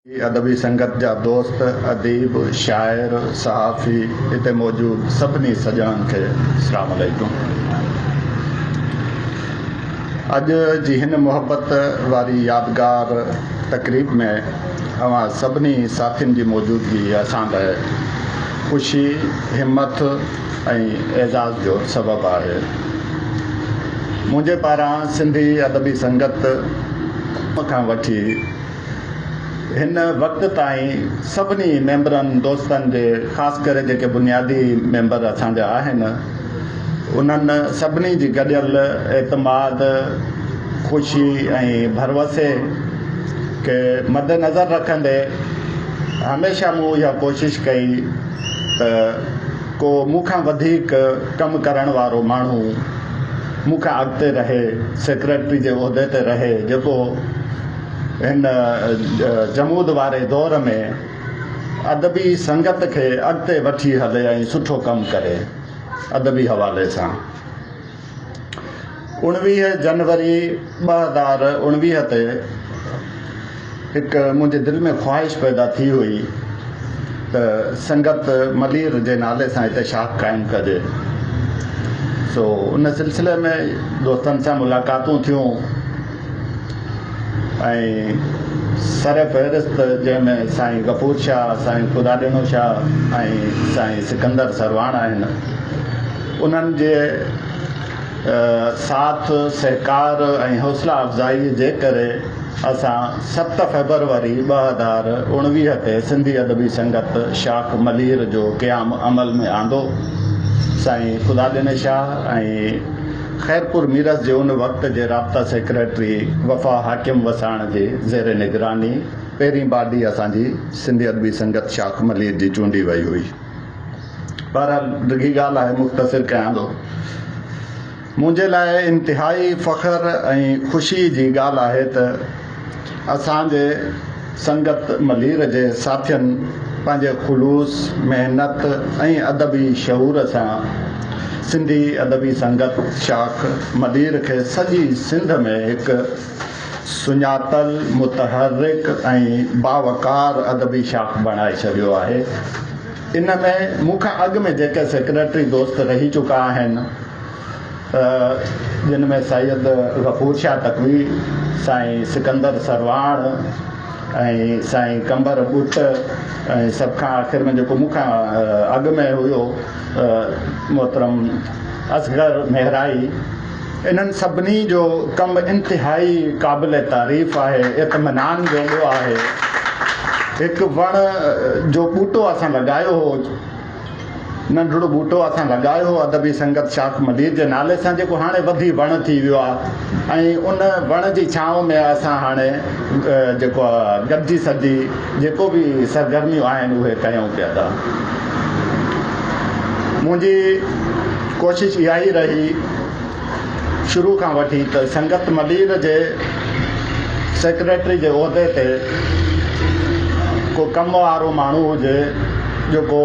هي ادبي سنگت جا دوست، اديب، شاعر، صحافي، هتي موجود سڀني سڄڻن کي اسلام عليڪم. اڄ جي هن محبت واري يادگار تقريب ۾ اوهان سڀني ساٿين جي موجودگي اسان لاء خوشي، همٿ ۽ اعزاز جو سبب آهي. منهنجي پاران سنڌي ادبي سنگت کان وٺي، هن وقت تائين سڀني ميمبرن دوستن جي خاص ڪري جيڪي بنيادي ميمبر اسان جا آهن انهن سڀني جي گڏيل اعتماد خوشي ۽ ڀروسي کي مدنظر رکندي هميشه مون اها ڪوشش ڪئي ته ڪو مون کان وڌيڪ ڪم ڪرڻ وارو ماڻهو مون کان اڳتي رهي سيڪريٽري جي عهدي تي رهي جيڪو هن جمود واري دور ۾ ادبي سنگت کي اڳتي وٺي هلي ۽ سٺو ڪم ڪري. ادبي حوالي سان اوڻويهه جنوري ٻه هزار اوڻويهه تي هڪ منهنجي دل ۾ خواهش پيدا ٿي هئي ته سنگت ملير جي نالي سان هتي شاخ قائم ڪجي سو ان سلسلي ۾ دوستن سان ملاقاتون ٿيون ۽ سر فهرست جنهن ۾ سائين غفور شاهه، سائين خداڏينو شاهه ۽ سائين سڪندر سرواڻ آهن. انهن جي ساٿ سهڪار ۽ حوصلا افزائي جي ڪري اسان ست فيبروري ٻه هزار اڻويهه تي سنڌي ادبي سنگت شاخ ملير جو قيام عمل ۾ آندو. سائين خداڏيني شاهه ۽ خيرپور ميرس جي ان وقت جي رابطا سيڪريٽري وفا حاڪم وساڻ جي زير نگراني پهرين باڊي اسان جي سنڌي ادبي سنگت شاخ ملير جي چونڊي وئي هئي. بهرحال ڊگهي ڳالهه آهي مختصر ڪيان ٿو. منهنجي لاء انتهائي فخر ۽ خوشي جي ڳالهه آهي ته، اسان جي سنگت ملير جي ساٿين پنهنجي خلوص، محنت ۽ ادبي شعور سان سنڌي ادبي سنگت شاخ ملير کي سڄي سنڌ ۾ هڪ سڃاتل، متحرڪ ۽ باوقار ادبي شاخ بڻائي ڇڏيو آهي. ان ۾ مون کان اڳ ۾ جيڪي سيڪريٽري دوست رهي چڪا آهن، جن ۾ سيد غفور شاهه تقوي، سائين سڪندر سرواڻ ۽ سائين قمبر ٻٽ ۽ سڀ کان آخر ۾ جيڪو مون کان اڳ ۾ هيو محترم اصغر مهرائي انهن سڀني جو ڪم انتهائي قابل تعريف آهي اطمينان جوڳو آهي هڪ وڻ جو ٻوٽو اسان لڳايو هو ننڍڙو ٻوٽو اسان لڳايو هو ادبي سنگت شاخ ملير جي نالي سان جيڪو هاڻي وڌي وڻ ٿي ويو آهي ۽ ان وڻ جي ڇانو ۾ اسان هاڻي جيڪو گڏجي سڏجي جيڪو به سرگرميون آهن اهي ڪيون پيا ٿا منهنجي ڪوشش اها ئي رهي شروع کان وٺي ته سنگت ملير جي سيڪريٽري جي عهدي تي ڪو ڪم وارو ماڻهو هجي جو ڪو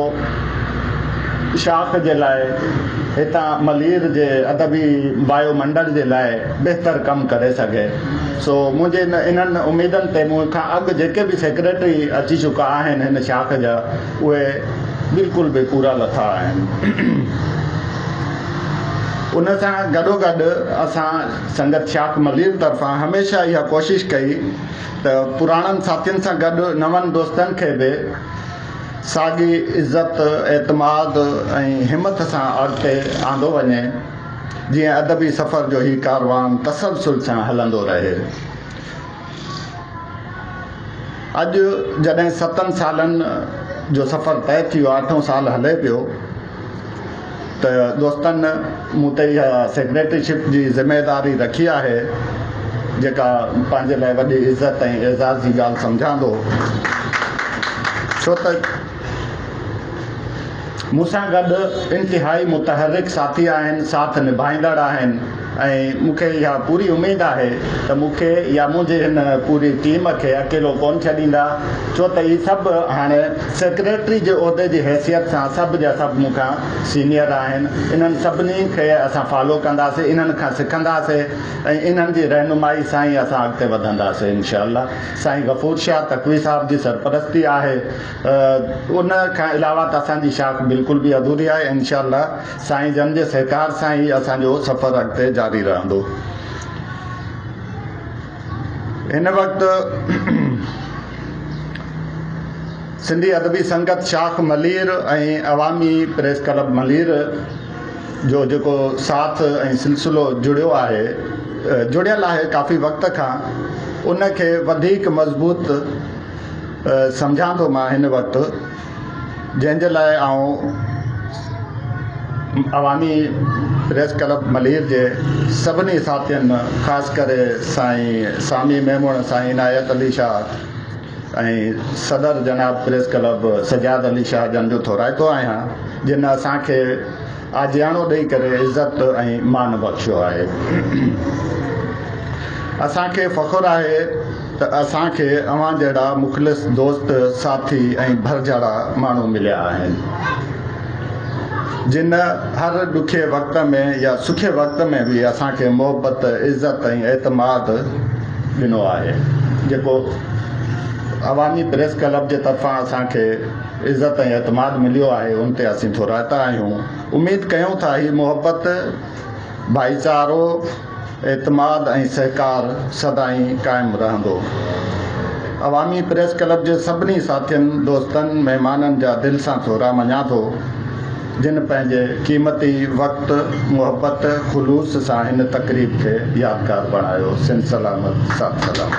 شاخ جي لاء هتان ملير جي ادبي وايو منڊل جي لاء بهتر ڪم ڪري سگهي سو منهنجي انهن اميدن تي مون کان اڳ جيڪي به سيڪريٽري اچي چڪا آهن هن شاخ جا اهي بلڪل به پورا لٿا آهن. ان سان گڏوگڏ اسان سنگت شاخ ملير طرفان هميشه اها ڪوشش ڪئي ته پراڻن ساٿين سان گڏ نون دوستن کي به ساڳي عزت، اعتماد ۽ همٿ سان اڳتي آندو وڃي جيئن ادبي سفر جو هي ڪاروان تسلسل سان هلندو رهي. اڄ جڏهن ستن سالن جو سفر طئي ٿي ويو آهي، اٺون سال هلي پيو ته دوستن مون تي اها سيڪريٽري شپ جي ذميواري رکي آهي جيڪا پنهنجي لاء وڏي عزت ۽ اعزاز جي ڳالهه سمجهان ٿو ڇو ته مون سان گڏ انتهائي متحرڪ ساٿي آهن، ساٿ نڀائيندڙ آهن ۽ مون کي اها پوري اميد آهي ته مون کي يا منهنجي هن پوري ٽيم کي اڪيلو ڪونه ڇڏيندا ڇو ته اهي سڀ هاڻ سيڪريٽري جي عهدي جي حيثيت سان سڀ جا سڀ مون کان سينيئر آهن انهن سڀني کي اسان فالو ڪنداسين انهن کان سکنداسين ۽ انهن جي رهنمائي سان ئي اسان اڳتي وڌنداسين انشاء الله سائين غفور شاهه تقوي صاحب جي سرپرستي آهي ان کان علاوه ته اسان جي شاخ بلڪل به اڌوري آهي انشاء الله سائين جن جي سهڪار سان ئي اسان جو سفر اڳتي جاري رهندو هن وقت سنڌي ادبي سنگت شاخ ملير ۽ عوامي پريس ڪلب ملير جو جيڪو ساٿ ۽ سلسلو جڙيو آهي جڙيل آهي ڪافي وقت کان ان کي وڌيڪ مضبوط سمجهان ٿو مان هن وقت جنهن جي لاء آئون عوامي پريس ڪلب ملير جي سڀني ساٿين خاص ڪري سائين سامي ميمڻ سائين عنايت علي شاهه ۽ صدر جناب پريس ڪلب سجاد علي شاهه جن جو ٿورائتو آهيان جن اسان کي آجياڻو ڏئي ڪري عزت ۽ مان بخشيو آهي. اسان کي فخر آهي ته اسان کي اوهان جهڙا مخلص دوست، ساٿي ۽ ڀرجهڙا ماڻهو مليا آهن. جن هر ڏکي وقت ۾ يا سکي وقت ۾ به اسان کي محبت، عزت ۽ اعتماد ڏنو آهي. جيڪو عوامي پريس ڪلب جي طرفان اسان کي. عزت ۽ اعتماد مليو آهي ان تي اسين ٿورائتا آهيون اميد ڪيون ٿا هي محبت ڀائيچارو اعتماد ۽ سهڪار سدائين قائم رهندو عوامي پريس ڪلب جي سڀني ساٿين دوستن مهمانن جا دل سان ٿورا مڃان ٿو جن پنهنجي قيمتي وقت محبت خلوص سان هن تقريب کي يادگار بڻايو سنڌ سلامت ساٿ سلام.